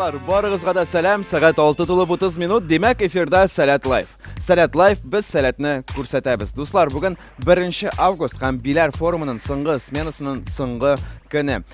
Дуслар, барыгызга да сәлам. Сәгать 6 тулып 30 минут. Димәк, эфирда Сәләт Лайф. Сәләт Лайф без сәләтне күрсәтәбез. Дуслар, бүген 1 август һәм Биләр форумының соңгы сменасының соңгы көне.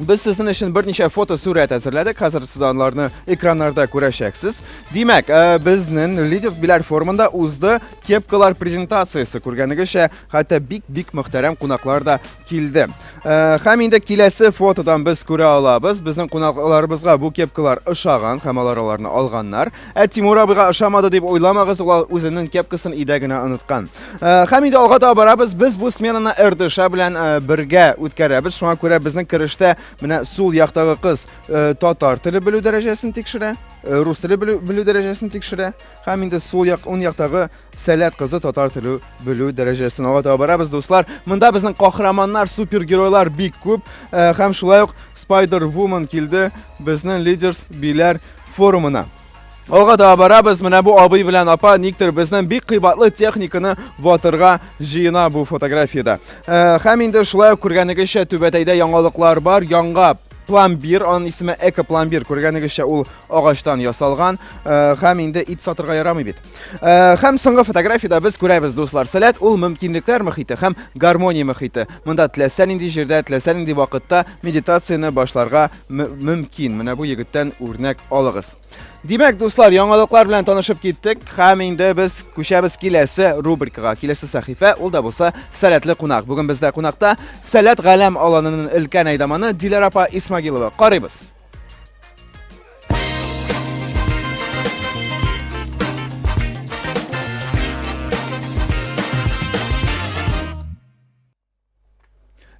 Без сезнең өчен берничә фотосурәт әзерләдек. Хәзер сез анларны экраннарда күрәчәксез. Димәк, э, безнең Лидерс Биләр форумында узды кепкалар презентациясе. Күргәнегезчә, хәтта бик-бик мөхтәрәм кунаклар да килде. Э, һәм инде киләсе фотодан без күрә алабыз. Безнең кунакларыбызга бу кепкалар ошаган һәм алар аларны алганнар. Ә Тимур абыйга ошамады дип уйламагыз, ул үзенең кепкасын өйдә генә оныткан. Э, һәм инде алга таба барабыз. Без бу сменаны РДШ белән э, бергә үткәрәбез. Шуңа күрә безнең керештә менә сул яктагы кыз э, татар теле белү дәрәҗәсен тикшерә, рус теле белү дәрәҗәсен тикшерә. Һәм инде сул як ун яктагы Сәләт кызы татар теле белү дәрәҗәсен алга таба барабыз, дуслар. Монда безнең каһарманнар, супергеройлар бик күп. Һәм шулай ук Spider Woman килде. Безнең лидерс биләр форумына. Алга да барабыз. Менә бу абый белән апа никтер безнең бик кыйбатлы техниканы ватырга җыена бу фотографиядә. Э, һәм инде шулай ук күргәнегезчә түбәтәйдә яңалыклар бар. Яңа пломбир, аның исеме экопломбир. Күргәнегезчә ул агачтан ясалган э, һәм инде ит сатырга ярамый бит. Э, һәм соңгы фотографиядә без күрәбез, дуслар, сәләт ул мөмкинлекләр мөхите һәм гармония мөхите. Монда теләсә нинди җирдә, теләсә нинди вакытта медитацияне башларга мөмкин. Менә бу егеттән үрнәк алыгыз. Димәк, дуслар, яңалыклар белән танышып киттек һәм инде без күчәбез киләсе рубрикага. Киләсе сәхифә ул да булса сәләтле кунак. Бүген бездә кунакта Сәләт галәм аланының өлкән әйдаманы Диләр апа Исмагилова. Карыйбыз.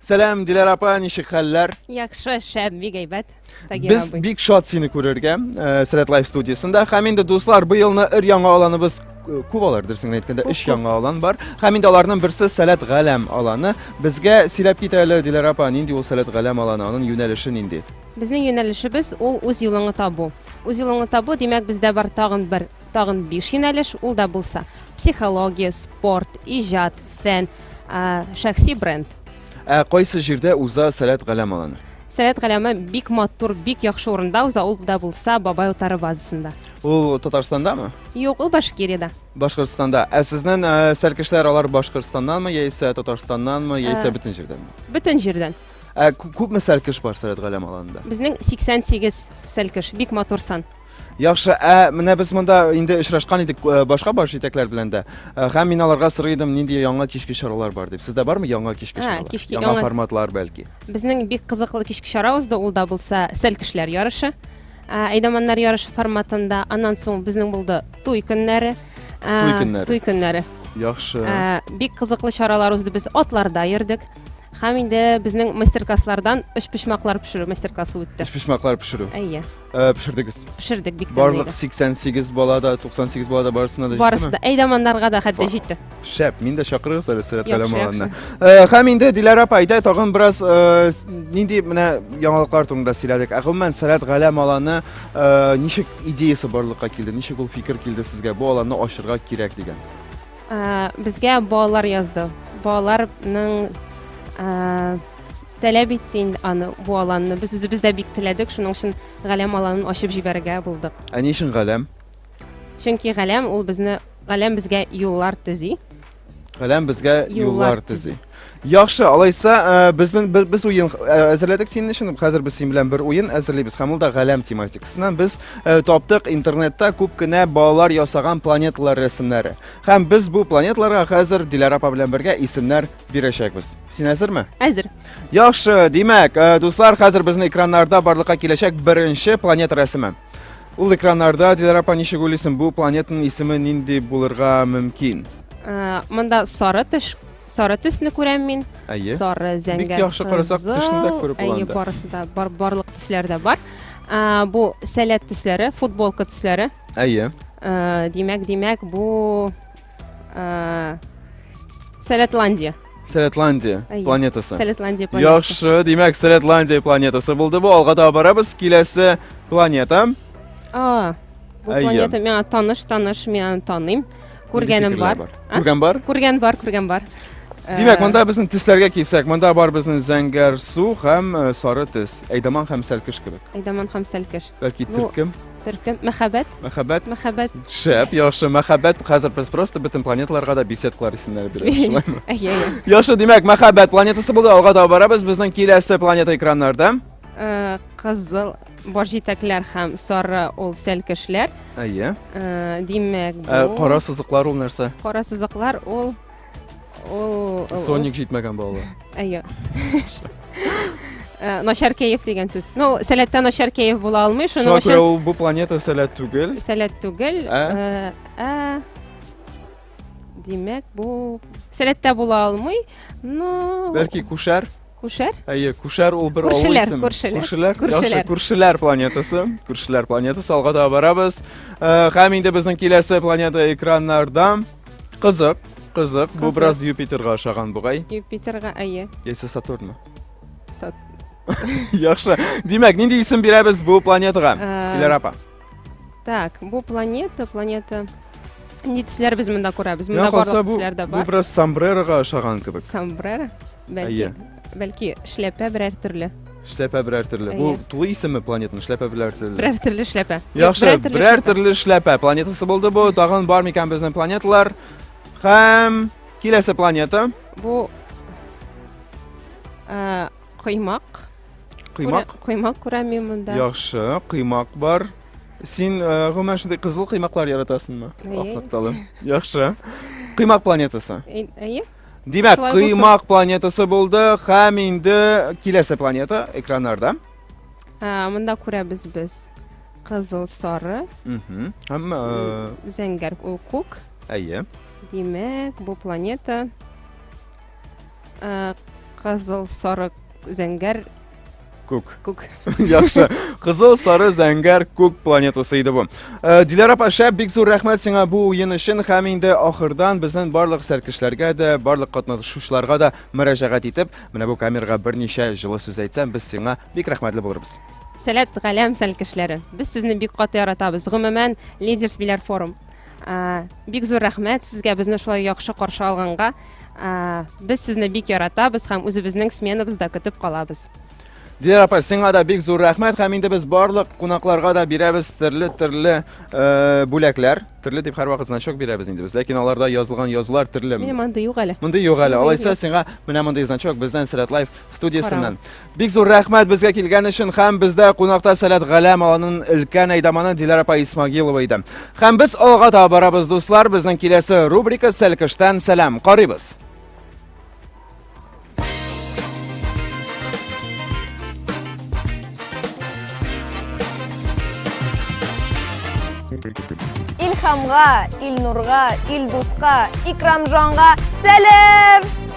Сәлам, Диләр апа, ничек хәлләр? Яхшы, шәп, бик әйбәт. Без бик шат сине күрергә э, Сәләт Лайф студиясендә. Һәм инде дуслар, бу елны өр яңа аланыбыз э, күп алар дөресен әйткәндә өч яңа алан бар. Һәм инде аларның берсе Сәләт Галәм аланы. Безгә сөйләп кит әле, Диләр апа, нинди ул Сәләт Галәм аланы, аның юнәлеше нинди? Безнең юнәлешебез ул үз юлыңны табу. Үз юлыңны табу, димәк, бездә бар тагын бер Тагын биш юнәлеш, ул да булса, психология, спорт, иҗат, фән, шәхси бренд. Ә кайсы җирдә уза Сәләт Галәм аланы? Сәләт Галәме бик матур, бик яхшы урында уза, ул да булса Бабай утары базасында. Ул Татарстандамы? Юк, ул Башкириядә. Башкортстанда. Ә сезнең сәлкешләр алар Башкортстаннанмы, яисә Татарстаннанмы, яисә бөтен җирдәнме? Бөтен җирдән. Ә күпме сәлкеш бар Сәләт Галәм аланында? Безнең 88 сәлкеш, бик матур сан. Яхшы, ә менә без монда инде очрашкан идек э, башка баш җитәкләр белән дә. Э, һәм мин аларга сорый идем, нинди яңа кичке чаралар бар дип. Сездә бармы яңа кичке Ә, чаралар? кичке яңа яңа- форматлар бәлки. Безнең бик кызыклы кичке чара узды, ул да булса сәл кешеләр ярышы. Ә, Әйдаманнар ярышы форматында, аннан соң безнең булды туй көннәре. Ә, Туй көннәре. Туй көннәре. Яхшы. Ә, бик кызыклы чаралар узды, без атларда йөрдек. Һәм инде безнең мастер-класслардан өчпочмаклар пешерү мастер-классы үтте. Эш пешмаклар пешерү. Әйе. Э, пешердегез пешердек бик барлык 88 бала да 98 бала да барысына да барысы да әйдаманнарга да хәтта җитте шәп мин дә чакырыгыз әле сәләт кәламаларына э, һәм инде диләр апа әйдә тагын бераз э, нинди менә яңалыклар турында сөйләдек ә гомумән сәләт галәм аланы ничек идеясы барлыкка килде ничек ул фикер килде сезгә бу аланны ачырга кирәк дигән безгә балалар язды балаларның Таләп итте инде аны, бу аланны. Без үзебез дә бик теләдек, шуның өчен Галәм аланын ачып җибәрергә булдык. Ә ни өчен Галәм? Чөнки Галәм ул безне, Галәм безгә юллар төзи. Галәм безгә юллар төзи. Яхшы, алайса, э, безнең без уен э, әзерләдек синең өчен. Хәзер без син белән бер уен әзерлибез. Һәм ул да Галәм тематикасыннан. Без э, таптык интернетта күп кенә балалар ясаган планеталар рәсемнәре. Һәм без бу планеталарга хәзер Диләрә апа белән бергә исемнәр бирәчәкбез. Син әзерме? Әзер. Яхшы, димәк, э, дуслар, хәзер безнең экраннарда барлыкка киләчәк беренче планета рәсеме. Ул экраннарда Дилара апа ничек уйлыйсың, бу планетаның исеме нинди булырга мөмкин? Э, Монда сары теш, сары төсне күрәм мин. Әйе. Сары зәңгәр. Бик яхшы карасак, кызыл. тешне дә күреп була Әйе, анда. барысы да бар, барлык төсләр дә бар. Э, Бу сәләт төсләре, футболка төсләре. Әйе. Э, Димәк, димәк, бу Ә, Сәләтландия. Сәләтландия Әйе. планетасы. Сәләтландия планетасы. Яхшы, димәк, Сәләтландия планетасы булды бу. Алга таба барабыз. Киләсе планета. А, бу Әйе. планета миңа таныш, таныш, мин аны таныйм. Күргәнем бар. А? Күргән бар? Күргән бар, күргән бар. Э, Димәк, монда безнең тисләргә килсәк, монда бар безнең зәңгәр су һәм э, сары тис. Әйдаман һәм сәлкеш кебек. Әйдаман һәм сәлкеш. Бәлки Ну, төркем, Төркем мәхәббәт, мәхәббәт. мәхәббәт. Шәп, яхшы. Мәхәббәт хәзер без просто бөтен планеталарга да беседкалар исемнәре бирәбез. шулаймы? Әйе, әйе. Яхшы, димәк, мәхәббәт планетасы булды. Алга таба барабыз. Безнең киләсе планета экраннарда. Э, Кызыл баш җитәкләр һәм сары ул сәлкешләр. Әйе. Э, Димәк, Ә, бу Кара сызыклар ул нәрсә? кара сызыклар ул Соник җитмәгән балалар. Әйе. Э, начар кәеф дигән сүз. Ну, сәләттә начар кәеф була алмый, шуның өчен. Шуңа күрә бу планета сәләт түгел. Сәләт түгел. Ә? Э, ә? Димәк, бу сәләттә була алмый. Ну, бәлки күшәр? Күшәр? Әйе, Күшәр ул бер авыл исеме. Күршеләр, күршеләр. Күршеләр, күршеләр планетасы. Күршеләр планетасы, алга да барабыз. Э, һәм инде безнең киләсе планета экраннарда. Кызык, кызык. Бу бераз Юпитерга ошаган бугай. Юпитерга, әйе. Яисә Сатурнмы? Яхшы. Димәк, нинди исем бирәбез бу планетага? Э, Диләр апа. Так, бу планета, планета. Нинди төсләр без монда күрәбез? Монда барлык төсләр дә бар. Бу бераз сомбрерога ошаган кебек. Сомбрера? Бәлки, бәлки шляпә берәр төрле. Шляпә берәр төрле. Бу тулы исеме планетаның шляпә берәр төрле. Берәр төрле шляпә. Яхшы, берәр төрле шляпә планетасы булды бу. Тагын бар микән безнең планеталар? Хәм киләсе планета. Бу э, коймак. Коймак? Күрә, коймак күрәм мин монда. Яхшы, коймак бар. Син э, гомумән шундый кызыл коймаклар яратасыңмы? Әйе. Ак нокталы. Яхшы. Коймак планетасы. Әй- Әйе? Димәк, Шулай булсын. коймак планетасы булды һәм инде киләсе планета экраннарда. Ә, Монда күрәбез без кызыл, сары, Мгм. Һәм э, зәңгәр ул күк. әйе. Димәк, бу планета Э, кызыл сары зәңгәр күк күк яхшы кызыл сары зәңгәр күк планетасы иде бу э, диләр апа шәп бик зур рәхмәт сиңа бу уен өчен һәм инде ахырдан безнең барлык сәркешләргә дә барлык катнашучыларга да мөрәҗәгать итеп менә бу камерага берничә җылы сүз әйтсәм без сиңа бик рәхмәтле булырбыз сәләт галәм сәлкешләре без сезне бик каты яратабыз гомумән лидерс биләр форум э, бик зур рәхмәт сезгә безне шулай яхшы каршы алганга Без сезне бик яратабыз һәм үзебезнең сменабызда көтеп калабыз. Диләр апа, сиңа да бик зур рәхмәт һәм инде без барлык кунакларга да бирәбез төрле-төрле э, бүләкләр. Төрле дип һәрвакыт значок бирәбез инде без, ләкин аларда язылган язулар төрле. Минем анда юк әле. Мондый юк әле. Алайса сиңа менә мондый значок бездән Сәләт Лайф студиясеннән. Бик зур рәхмәт безгә килгән өчен һәм бездә кунакта Сәләт Галәм аланын өлкән әйдаманы Диләр апа Исмагилова иде. Һәм без алга таба барабыз, дуслар, безнең киләсе рубрика Сәлкештән сәлам. Карыйбыз. Илхамга, Илнурга, Илдуска, Икрамжанга сәлам!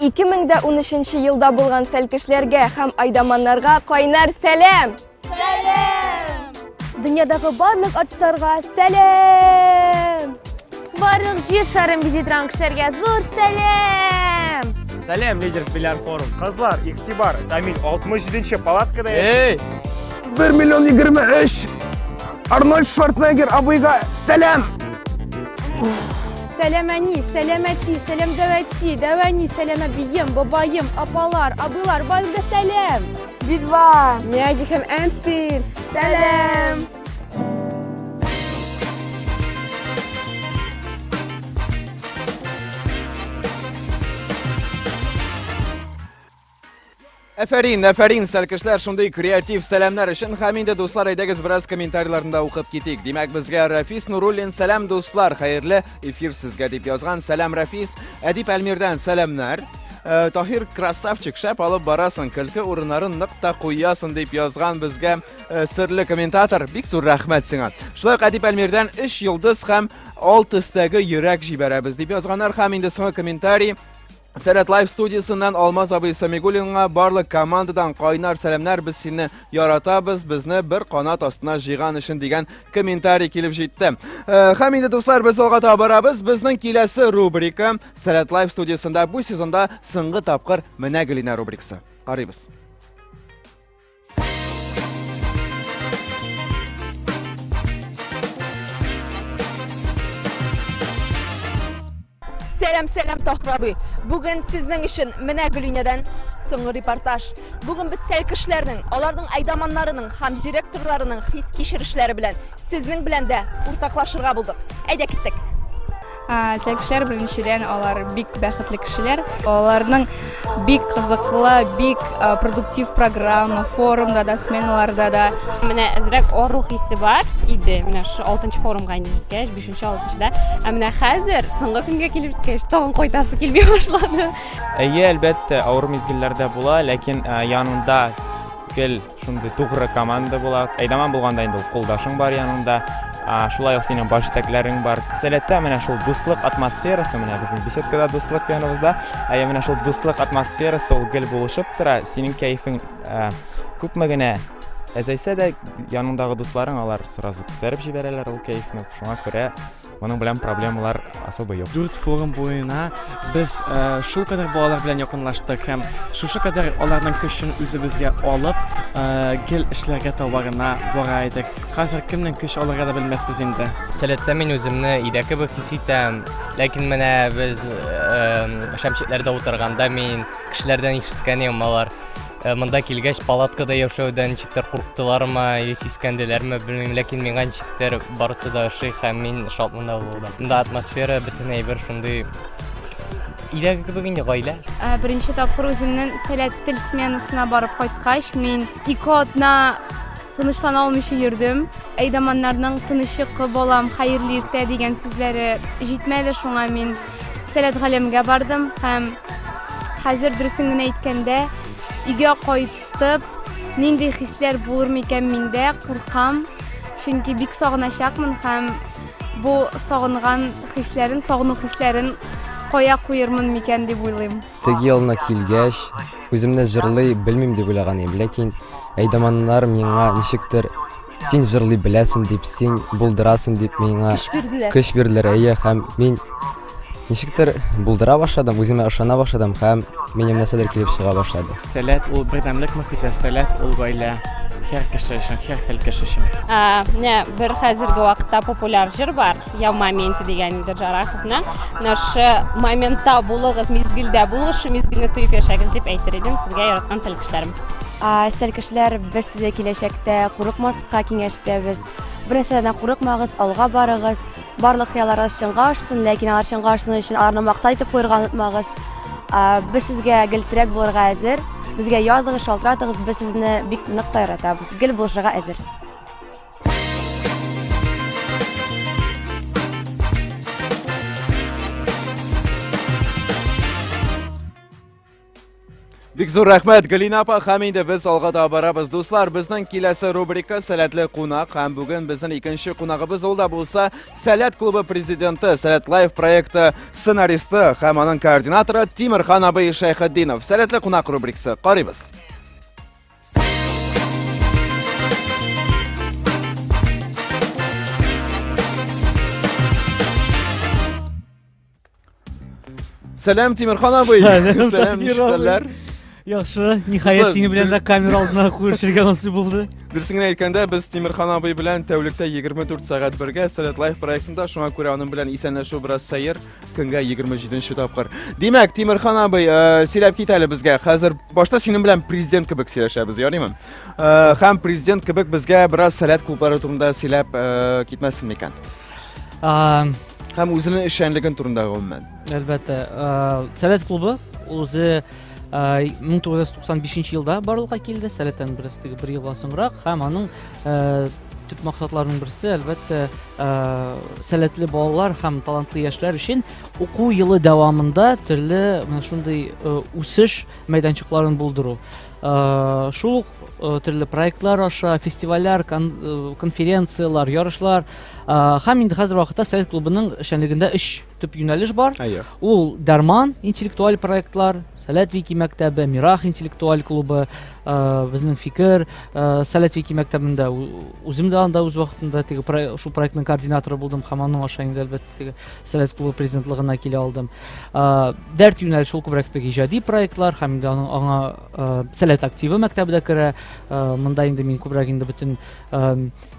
Ике мең дә унөченче елда булган сәлкешләргә һәм айдаманнарга кайнар сәләм! Сәләм! Дөньядагы барлык артистларга сәләм! Барлык җир шарын визитран кешеләргә зур сәлам! Сәлам, лидер Филяр форум. Кызлар, игътибар, Тамил 67-нче палаткада. Эй! 1 миллион 23! Арнольд Шварценеггер абыйга сәлам! Сәлам әни, сәлам әти, сәлам дәвәти, дәвәни, сәлам әбием, бабаем, апалар, абыйлар, барыгызга сәлам! Бидва, Мяги һәм Эншпиль, сәлам! Әфәрин, әфәрин, сәлкешләр, шундый креатив сәламнәр өчен һәм инде дуслар әйдәгез бераз комментарийларында укып китик. Димәк, безгә Рафис Нуруллин сәлам дуслар, хәерле эфир сезгә дип язган. Сәлам Рафис, Әдип Әлмирдән сәламнәр. Э, Таһир красавчик, шәп алып барасың, көлке урыннарын нык та куясың дип язган безгә Э, серле комментатор, бик зур рәхмәт сиңа. Шулай ук Әдип Әлмирдән 3 йолдыз һәм 6 өстәге йөрәк җибәрәбез дип язганнар һәм инде соңгы комментарий Сәрәт Лайф студиясеннән Алмаз абый Самигулинга барлык командадан кайнар сәламнәр без сине яратабыз безне бер канат астына җыйган өчен дигән комментарий килеп җитте. Э, һәм инде дуслар без алга таба барабыз. Безнең киләсе рубрика Сәрәт Лайф студиясендә бу сезонда сыңгы тапкыр менә Гөлинә рубрикасы. Карыйбыз. Сәлам, сәлам, Тахир абый. Бүген сезнең өчен менә Гөлинәдән соңгы репортаж. Бүген без сәл кешеләрнең, аларның айдаманнарының һәм директорларының хис кичерешләре белән сезнең белән дә уртаклашырга булдык. Әйдә киттек. Сәкешләр беренчедән алар бик бәхетле кешеләр. Аларның бик кызыклы, бик продуктив программа, форумда да, сменаларда да. Менә әзрәк ару хисе бар иде. Менә шу 6нчы форумга инде җиткәч, 5нче, 6нчыда. Ә менә хәзер соңгы көнгә килеп җиткәч, тагын кайтасы килми башлады. Әйе, әлбәттә, авыр мизгелләр дә була, ләкин янында гел Шундый тугры команда була. Әйдаман булганда инде ул кулдашың бар яныңда. А, шулай ук синең баш җитәкләрең бар. Сәләттә менә шул дуслык атмосферасы, менә безнең беседкада дуслык яныбызда. Ә я менә шул дуслык атмосферасы ул гел булышып тора. Синең кәефең а, күпме генә әзәйсә дә, яныңдагы дусларың алар сразу күтәреп җибәрәләр ул кәефне. Шуңа күрә Моның белән проблемалар особо юк. Дүрт форум буена без э, шул кадәр балалар белән якынлаштык һәм шушы кадәр аларның көчен үзебезгә алып, э, гел эшләргә табарына бара идек. Хәзер кемнең көч алырга да белмәспез инде. Сәләттә мин үземне өйдә кебек хис итәм, ләкин менә без э, шәмчетләрдә утырганда мин кешеләрдән ишеткәнем алар Монда килгәч, палаткада яшәүдән ничектер курктылармы, или сискәнделәрме, белмим, ләкин миңа ничектер барысы да ошый һәм мин шатмында булдым. Монда атмосфера, бөтен әйбер шундый Иләге кебек инде гаилә. Ә, беренче тапкыр үземнең сәләт тел сменасына барып кайткач, мин ике атна тынычлана алмыйча йөрдем. Әйдаманнарның тыныч йокы балам, хәерле иртә дигән сүзләре җитмәде, шуңа мин Сәләт галәмгә бардым һәм хәзер дөресен генә әйткәндә, өйгә кайтып, нинди хисләр булыр микән миндә, куркам, чөнки бик сагыначакмын һәм бу сагынган хисләрен, сагыну хисләрен кая куермын микән дип уйлыйм. Теге елны килгәч, үземне җырлый белмим дип уйлаган идем, ләкин әйдаманнар миңа ничектер син җырлый беләсең дип, син булдырасың дип миңа Көч бирделәр. көч бирделәр, әйе, һәм мин ничектер булдыра башладым, үземә ышана башладым һәм минем нәрсәдер килеп чыга башлады. Сәләт ул бердәмлек мөхите, сәләт ул гаилә. Һәр кеше өчен, һәр сәл кеше өчен. Ә, менә бер хәзерге вакытта популяр җыр бар. Я в моменте дигән инде Джараховна. Менә шы моментта булыгыз, мизгелдә булыгыз, шы мизгелне тоеп яшәгез дип әйтер идем сезгә яраткан сәл кешеләрем. Сәл кешеләр, без сезгә киләчәктә курыкмаска киңәш итәбез. Бернәрсәдән курыкмагыз, алга барыгыз. Барлык хыялларыгыз чынга ашсын, ләкин алар чынга ашсын өчен аларны максат итеп куерга онытмагыз. Без сезгә гел терәк булырга әзер. Безгә языгыз, шалтыратыгыз, без сезне бик нык та яратабыз. Гел булышырга әзер. Бик зур рәхмәт, Галина апа, һәм инде без алга да барабыз. Дуслар, безнең киләсе рубрика Сәләтле кунак һәм бүген безнең икенче кунагыбыз ул да булса Сәләт клубы президенты, Сәләт лайф проекты сценаристы һәм аның координаторы Тимирхан абый Шәйхетдинов. Сәләтле кунак рубрикасы. Карыйбыз. Сәлам, Тимирхан абый. Сәлам, Сәлам, Тимир абый. нишкәлләр. Яхшы, ниһаять Дуслар, синең белән дә камера алдына күрешергә насыйп булды. Дөресен генә әйткәндә, без Тимирхан абый белән тәүлектә 24 сәгать бергә Сәләт Лайф проектында, шуңа күрә аның белән исәнләшү бераз сәер. Көнгә 27 нче тапкыр. Димәк, Тимерхан абый, э, сөйләп кит әле безгә. Хәзер башта синең белән президент кебек сөйләшәбез, ярыймы? Э, һәм президент кебек безгә бераз сәләт клублары турында сөйләп э, китмәсен микән? А, Һәм үзенең эшчәнлеген турында гомумән. Әлбәттә, а, Сәләт клубы үзе а, 1995 елда барлыкка килде, Сәләттән бераз теге бер елга соңрак һәм аның а, төп максатларның берсе әлбәттә э, сәләтле балалар һәм талантлы яшьләр өчен уку елы дәвамында төрле менә шундый э, үсеш мәйданчыкларын булдыру э, шул ук төрле проектлар аша фестивальләр конференцияләр ярышлар һәм инде хәзер вакытта совет клубының эшчәнлегендә өч төп юнәлеш бар. Әйе. Ул Дәрман интеллектуаль проектлар, Сәләт Вики мәктәбе, Мирах интеллектуаль клубы, э, безнең фикер, э, Сәләт Вики мәктәбендә үзем дә анда үз вакытында теге шу проектның координаторы булдым һәм аның аша инде әлбәттә теге Сәләт клубы президентлыгына килә алдым. Э, Дәрт юнәлеше шул күбрәк теге иҗади проектлар һәм инде аның аңа Сәләт активы мәктәбе дә керә. Монда инде мин күбрәк инде бөтен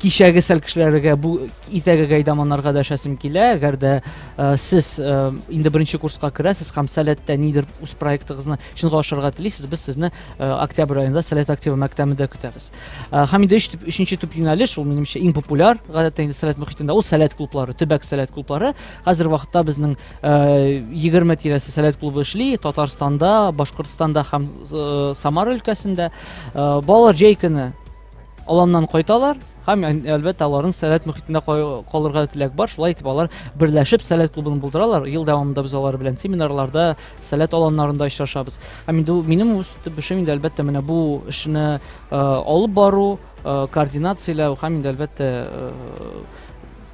кичәге сәл кешеләргә бу итәге гайдаманнарга да шәсем килә әгәр дә э, сез э, инде беренче курска керәсез һәм сәләттә нидер үз проектыгызны чынга ашырырга телисез без сезне э, октябрь аенда сәләт активы мәктәбендә көтәбез һәм инде өченче төп юнәлеш ул минемчә иң популяр гадәттә инде сәләт мөхитендә ул сәләт клублары төбәк сәләт клублары хәзер вакытта безнең егерме тирәсе сәләт клубы эшли татарстанда башкортстанда һәм самара өлкәсендә балалар җәй көне аланнан кайталар һәм әлбәттә аларның сәләт мөхитендә калырга теләк бар шулай итеп алар берләшеп сәләт клубын булдыралар ел дәвамында без алар белән семинарларда сәләт аланнарында очрашабыз һәм инде минем үз төшем инде әлбәттә менә бу эшне э, алып бару э, координацияләү һәм инде әлбәттә э,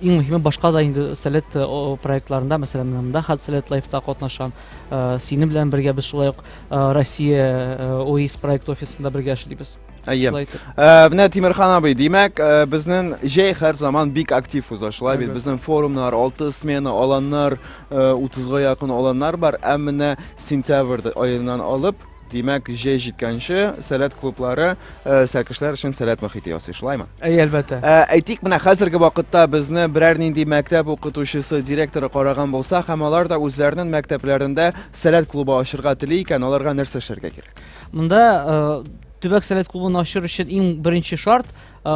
иң мөһиме башка да инде сәләт э, проектларында мәсәлән мында хат сәләт лайфта катнашам э, синең белән бергә без шулай ук э, россия оис проект офисында бергә эшлибез Әйе. Э, менә Тимирхан абый, димәк, э, безнең җәй һәр заман бик актив уза. Шулай бит, безнең форумнар, 6 смена аланнар, 30-га э, якын аланнар бар. Ә менә сентябрь аеннан алып, димәк, җәй җиткәнче сәләт клублары сәкешләр өчен сәләт мөхите ясый, шулаймы? Әй, әлбәттә. Әйтик, менә хәзерге вакытта безне берәр нинди мәктәп укытучысы, директоры караган булса, һәм алар да үзләренең мәктәпләрендә сәләт клубы ачырга тели икән, аларга нәрсә эшләргә кирәк? Монда Төбәк совет клубын ачыр өчен иң беренче шарт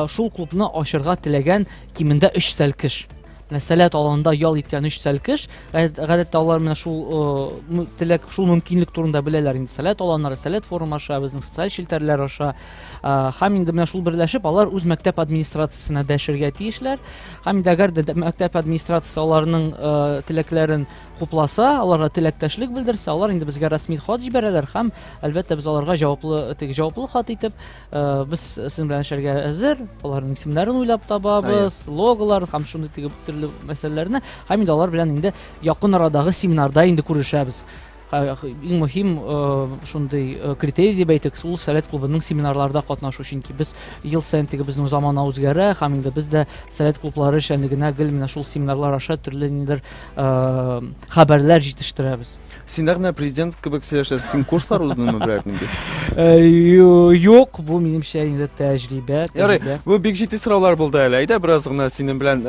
шул клубны ачырга теләгән кимендә 3 сәлкеш. Менә сәләт аланда ял иткән 3 сәлкеш. Гадәттә алар менә шул теләк, шул мөмкинлек турында беләләр инде. Сәләт аланнары, сәләт форум аша, безнең социаль челтәрләр аша. Һәм инде менә шул берләшеп алар үз мәктәп администрациясенә дәшергә тиешләр. Һәм инде әгәр дә мәктәп администрациясе аларның теләкләрен хупласа, аларга теләктәшлек белдерсә, алар инде безгә рәсми хат җибәрәләр һәм әлбәттә без аларга җаваплы теге җаваплы хат итеп э, без сезнең белән эшләргә әзер, аларның исемнәрен уйлап табабыз, логоларын һәм шундый теге төрле мәсьәләләрне һәм инде алар белән инде якын арадагы семинарда инде күрешәбез. Э, иң мөһим э, шундый э, критерий дип әйтик ул сәләт клубының семинарларда катнашу чөнки без ел саен теге безнең замана үзгәрә һәм инде без дә сәләт клублары эшчәнлегенә гел менә шул семинарлар аша төрле ниндидер хәбәрләр җитештерәбез. Син нәкъ менә президент кебек сөйләшәсең. Син курслар уздыңмы берәр нинди? Юк, бу минемчә инде тәҗрибә. Ярый, бу бик җитди сораулар булды әле. Әйдә бераз гына синең белән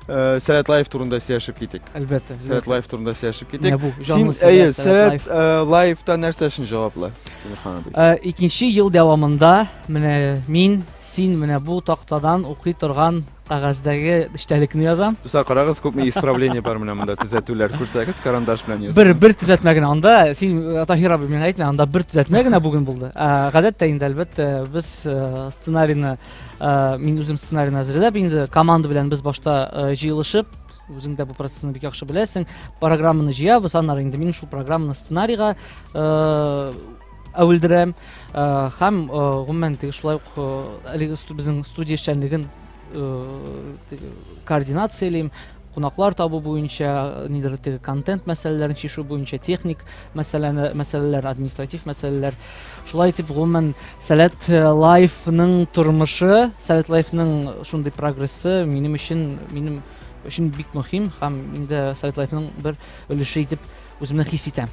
Э, сәләт лайф турында сөйләшеп китик әлбәттә сәләт лайф турында сөйләшеп китик син әйе сәләт э, лайфта нәрсә өчен җаваплы э, икенче ел дәвамында менә мин син менә бу тактадан укый торган Кәгазьдәге эчтәлекне язам. Дуслар, карагыз, күпме исправление бар менә монда, төзәтүләр. Күрсәгез, карандаш белән язам. Бер, бер төзәтмә генә. Анда, син, э, Таһир абый, миңа әйтмә, анда бер төзәтмә генә бүген булды. Ә, Гадәттә инде, әлбәттә, без э, сценарийны, э, мин үзем сценарийны әзерләп инде, команда белән без башта э, җыелышып, үзең дә бу процессны бик яхшы беләсең, программаны җыябыз, аннары инде мин шул программаны сценарийга э, Әвелдерәм һәм гомумән теге шулай ук әлеге безнең студия эшчәнлеген координациялим кунаклар табу буенча нидер теге контент мәсьәләләрен чишү буенча техник мәсьәләне мәсьәләләр административ мәсьәләләр шулай итеп гомумән сәләт лайфның тормышы сәләт лайфның шундый прогрессы минем өчен минем өчен бик мөһим һәм инде сәләт лайфның бер өлеше итеп үземне хис итәм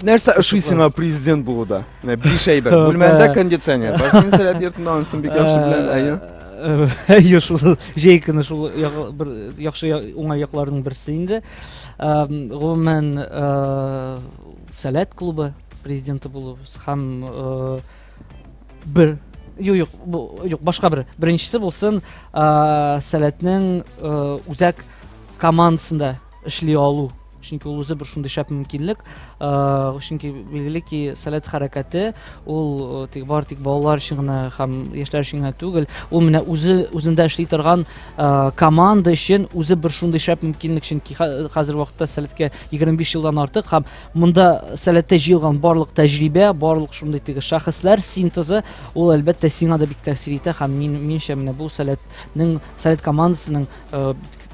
Нәрсә ошый сиңа президент булуда? Менә биш әйбер. Бүлмәңдә кондиционер. Бар син сәләт йортында ансын бик яхшы белән, әйе. Әйе, шул җәй көне шул бер яхшы уңай якларының берсе инде. Гомумән, сәләт клубы президенты булу һәм бер Юк, юк, бу юк, башка бер. Беренчесе булсын, сәләтнең үзәк командасында эшли алу чөнки ул үзе бер шундый шәп мөмкинлек чөнки билгеле ки сәләт хәрәкәте ул тик бар тик балалар өчен генә һәм яшьләр өчен генә түгел ул менә үзе үзендә эшли торган команда өчен үзе бер шундый шәп мөмкинлек чөнки хәзер вакытта сәләткә 25 елдан артык һәм монда сәләттә җыелган барлык тәҗрибә барлык шундый теге шәхесләр синтезы ул әлбәттә сиңа да бик тәэсир итә һәм мин минемчә менә бу сәләтнең сәләт командасының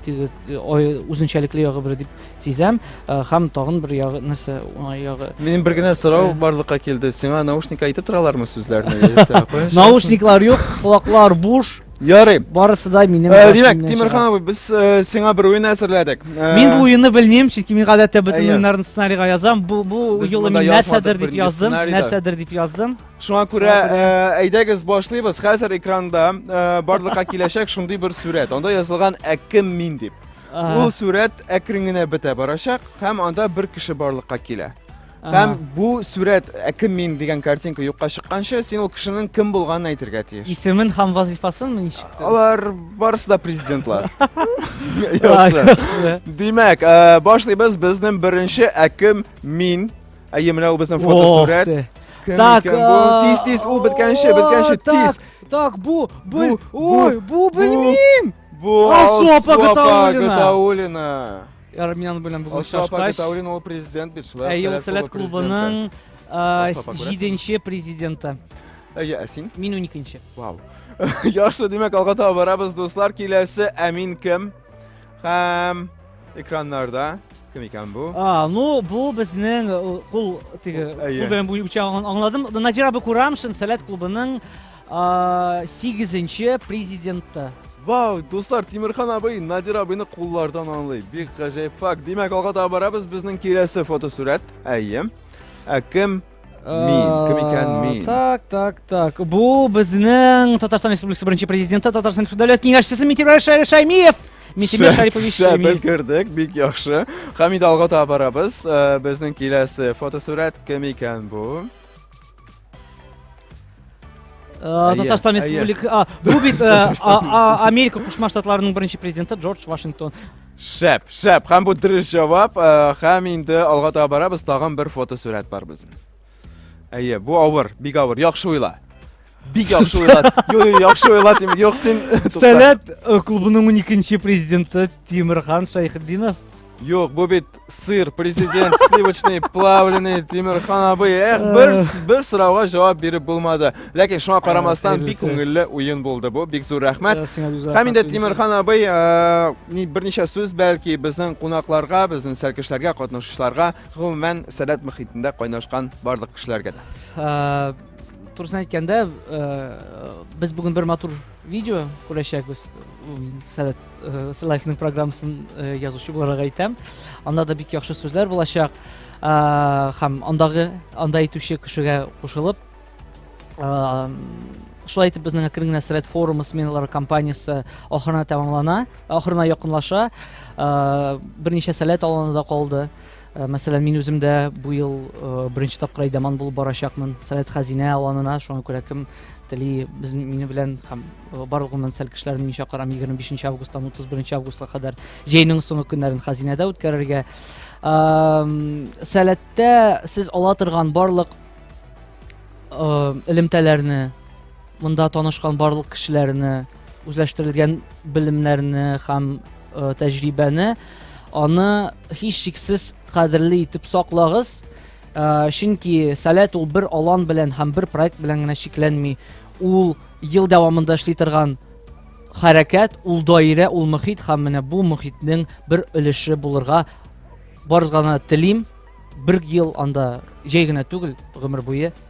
Теге ой үзенчәлекле ягы бер дип сизәм һәм тагын бер ягы нәрсә уңай ягы. Минем бер генә сорау барлыкка килде. Сиңа наушник әйтеп торалармы сүзләрне? Наушниклар юк, колаклар буш. Ярый. Барысы да минем. Э, димәк, Тимирхан абый, без э, сиңа бер уен әзерләдек. Э, мин бу уенны белмим, чөнки мин гадәттә бөтен уеннарны сценарийга язам. Бу бу юлы мин нәрсәдер дип яздым, нәрсәдер дип яздым. Шуңа күрә э, әйдәгез башлыйбыз. Хәзер экранда э, барлыкка киләчәк шундый бер сүрәт. Анда язылган ә кем мин дип. Ул сүрәт әкрен генә бетә барачак һәм анда бер кеше барлыкка килә. Һәм бу сүрәт ә кем мин дигән картинка юкка чыкканчы, син ул кешенең кем булганын әйтергә тиеш. Исемен һәм вазифасын ничек? Алар барысы да президентлар. Яхшы. Димәк, э, башлыйбыз безнең беренче ә кем мин Әйе, менә ул безнең фотосурәт. Кем так, икән бу? Тиз, тиз, ул беткәнче, беткәнче, тиз. Так, бу, бу, ой, бу белмим. Бу Алсуапа Гатаулина. Армян белән бүген шашкач. Алсуапа Гатаулина ул президент бит шулай. Әйе, ул Сәләт клубының җиденче президенты. Әйе, ә син? Мин уникенче. Вау. Яхшы, димәк, алга таба барабыз, дуслар. Киләсе Әмин кем? Һәм экраннарда кем икән бу? А, ну бу безнең кул теге кул белән буенча аңладым. Надира Бакурам Шансалят клубының 8-нче президенты. Вау, дуслар, Тимирхан абый Надир абыйны куллардан аңлый. Бик гаҗәеп факт. Димәк, алга таба барабыз. Безнең киләсе фотосурәт. Әйе. Ә кем Мин, кем икән мин? Так, так, так. Бу безнең Татарстан Республикасы беренче президенты, Татарстан Республикасы дәүләт киңәшчесе Митимир Шәймиев. Митимир Шәрипович Шәп белгердек, бик яхшы. Һәм инде алга таба барабыз. Э, безнең киләсе фотосурәт кем икән бу? Э, Татарстан Республикасы. Бу бит э, Америка Кушма Штатларының беренче президенты Джордж Вашингтон. Шәп, шәп, һәм бу дөрес җавап, э, һәм инде алга таба барабыз, тагын бер фотосурәт бар безнең. Әйе, бу авыр, бик авыр, яхшы уйла. Бик яхшы уйла. Юк, юк, яхшы уйла, тим, юк син. Сәләт э, клубының 12 нче президенты Тимирхан Шайхетдинов. Юк, бу бит сыр президент сливочный плавленый тимерхан абый эх бер бер сорауга җавап биреп булмады ләкин шуңа карамастан бик күңелле уен булды бу бик зур рәхмәт һәм инде тимерхан абый берничә сүз бәлки безнең кунакларга безнең сәлкешләргә катнашучыларга гомумән сәләт мөхитендә кайнашкан барлык кешеләргә дә турысын әйткәндә без бүген бер матур Видео күрәчәкбез. Сәләт Сәләтнең программасын язучы буларак әйтәм. Анда да бик яхшы сүзләр булачак. Һәм андагы анда әйтүче кешегә кушылып шулай итеп безнең әкрен генә сәләт форумы сменалары компаниясе ахырына тәмамлана, ахырына якынлаша. Берничә сәләт аланы да калды. Э, мәсәлән мин үзем дә бу ел э, беренче тапкыр әйдәман булып барачакмын совет хәзинә аланына шуңа күрә кем тели без мине белән һәм э, барлык гомумән сәл кешеләрне мин чакырам егерме бишенче августтан утыз беренче августка кадәр җәйнең соңгы көннәрен хәзинәдә үткәрергә сәләттә сез ала торган барлык элемтәләрне Монда танышкан барлык кешеләрне, үзләштерелгән белемнәрне һәм э, тәҗрибәне аны һичшиксез кадерле итеп саклагыз. Э, чөнки Сәләт ул бер алан белән һәм бер проект белән генә чикләнми. Ул ел дәвамында эшли торган хәрәкәт, ул даирә, ул мөхит һәм менә бу мөхитнең бер өлеше булырга барызгана телим. Бер ел анда җәй генә түгел, гомер буе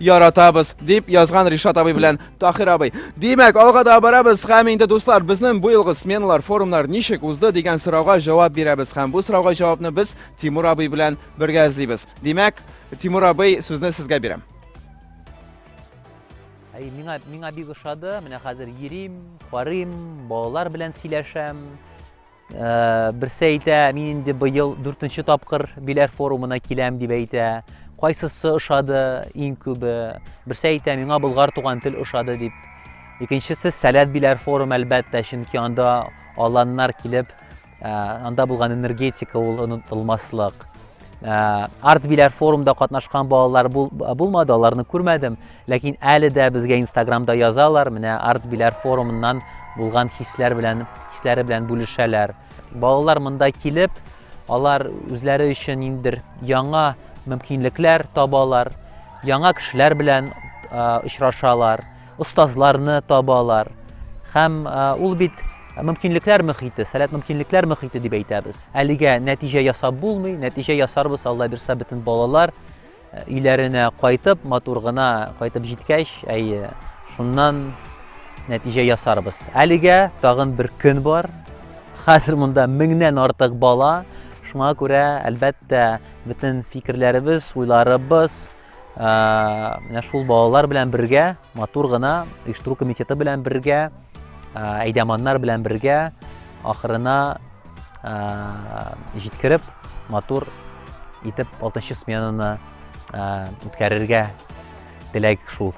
Яратабыз, дип язган Ришат абый белән Тахир абый. Димәк, алга да барабыз һәм инде дуслар, безнең бу елгы сменалар, форумнар ничек узды дигән сорауга җавап бирәбез һәм бу сорауга җавапны без Тимур абый белән бергә эзлибез. Димәк, Тимур абый, сүзне сезгә бирәм. Әй, миңа, миңа бик ошады, менә хәзер йөрим, карыйм, балалар белән сөйләшәм. Берсе әйтә, мин инде быел дүртенче тапкыр Биләр форумына киләм дип әйтә. Кайсысы ошады иң күбе? Берсе әйтә, миңа Болгар туган тел ошады дип. Икенчесе Сәләт Биләр форум әлбәттә, чөнки анда аланнар килеп, анда булган энергетика ул онытылмаслык. Э, артбиләр форумда катнашкан балалар булмады аларны күрмәдем ләкин әле дә безгә инстаграмда язалар менә артбиләр форумыннан булган хисләр белән хисләре белән бүлешәләр балалар монда килеп алар үзләре өчен ниндидер яңа мөмкинлекләр табалар яңа кешеләр белән э, очрашалар остазларны табалар һәм ул бит мөмкинлекләр мөхите, сәләт мөмкинлекләр мөхите дип әйтәбез. Әлегә нәтиҗә ясап булмый, нәтиҗә ясарбыз Алла бирса бөтен балалар өйләренә кайтып, матур гына кайтып җиткәч, әйе, шуннан нәтиҗә ясарбыз. Әлегә тагын бер көн бар. Хәзер монда меңнән артык бала. Шуңа күрә, әлбәттә, бөтен фикерләребез, уйларыбыз, менә шул балалар белән бергә матур гына оештыру комитеты белән бергә әйдәманнар белән бергә ахырына җиткереп матур итеп алтынчы сменаны үткәрергә теләк шул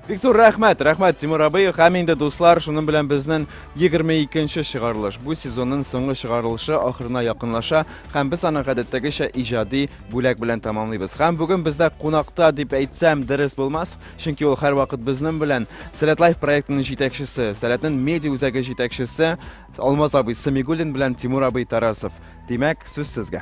Бик зур рәхмәт, рәхмәт Тимур абый. Һәм инде дуслар, шуның белән безнең 22-нче чыгарылыш. Бу сезонның соңгы чыгарылышы ахырына якынлаша һәм без аны гадәттәгечә иҗади бүләк белән тәмамлыйбыз. Һәм бүген бездә кунакта дип әйтсәм дөрес булмас, чөнки ул һәрвакыт безнең белән Сәләт Лайф проектының җитәкчесе, Сәләтнең медиа үзәге җитәкчесе Алмаз абый Самигуллин белән Тимур абый Тарасов. Димәк, сүз сезгә.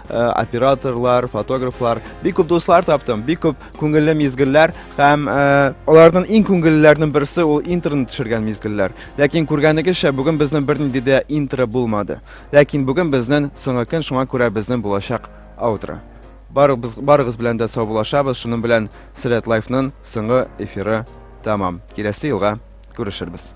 Э, операторлар, фотографлар, бик күп дуслар таптым, бик күп күңелле мизгелләр һәм э, аларның иң күңеллеләрнең берсе ул интернет төшергән мизгелләр. Ләкин күргәнегезчә, бүген безнең бернинди дә интро булмады. Ләкин бүген безнең соңгы көн, шуңа күрә безнең булачак аутро. Барыгыз, барыгыз белән дә саубулашабыз, шуның белән Сред Лайфның соңгы эфиры тәмам. Киләсе елга күрешербез.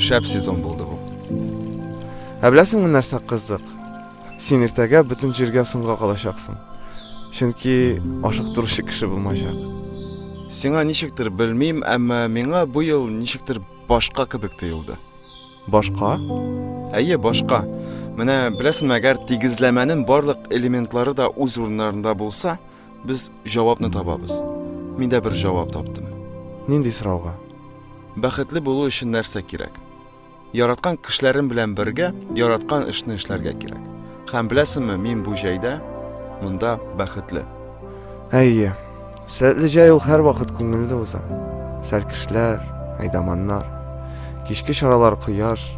Шәп сезон булды бу. Ә беләсеңме нәрсә кызык? Син иртәгә бөтен җиргә соңга калачаксың. Чөнки ашыктыручы кеше булмаячак. Сиңа ничектер белмим, әмма миңа бу ел ничектер башка кебек тоелды. Башка? Әйе, башка. Менә беләсеңме, әгәр тигезләмәнең барлык элементлары да үз урыннарында булса, Без җавапны табабыз. Мин дә бер җавап таптым. Нинди сорауга? Бәхетле булу өчен нәрсә кирәк? Яраткан кешеләрем белән бергә яраткан эшне эшләргә кирәк. Һәм беләсеңме, мин бу җәйдә монда бәхетле. Әйе. Сәләтле җәй ул һәрвакыт күңелле уза. Сәлкешләр, айдаманнар, кичке чаралар, кояш,